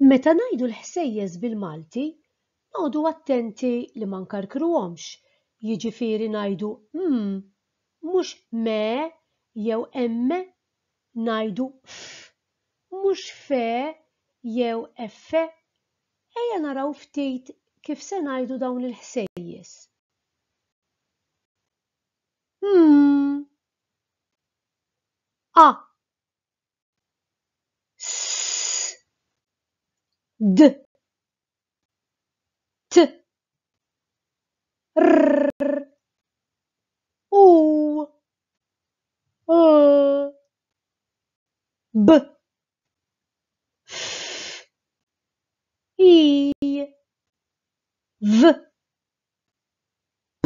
Meta ngħidu l-ħsejjes bil-Malti, noqogħdu attenti li ma nkarkruhomx, jiġifieri ngħidu mm, mhux me jew emme, ngħidu ff, mhux fe jew effe. Ejja naraw ftit kif se ngħidu dawn il-ħsejjes. Mm. A. d t r u u b f i v p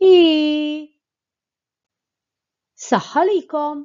I. Saħħa likom!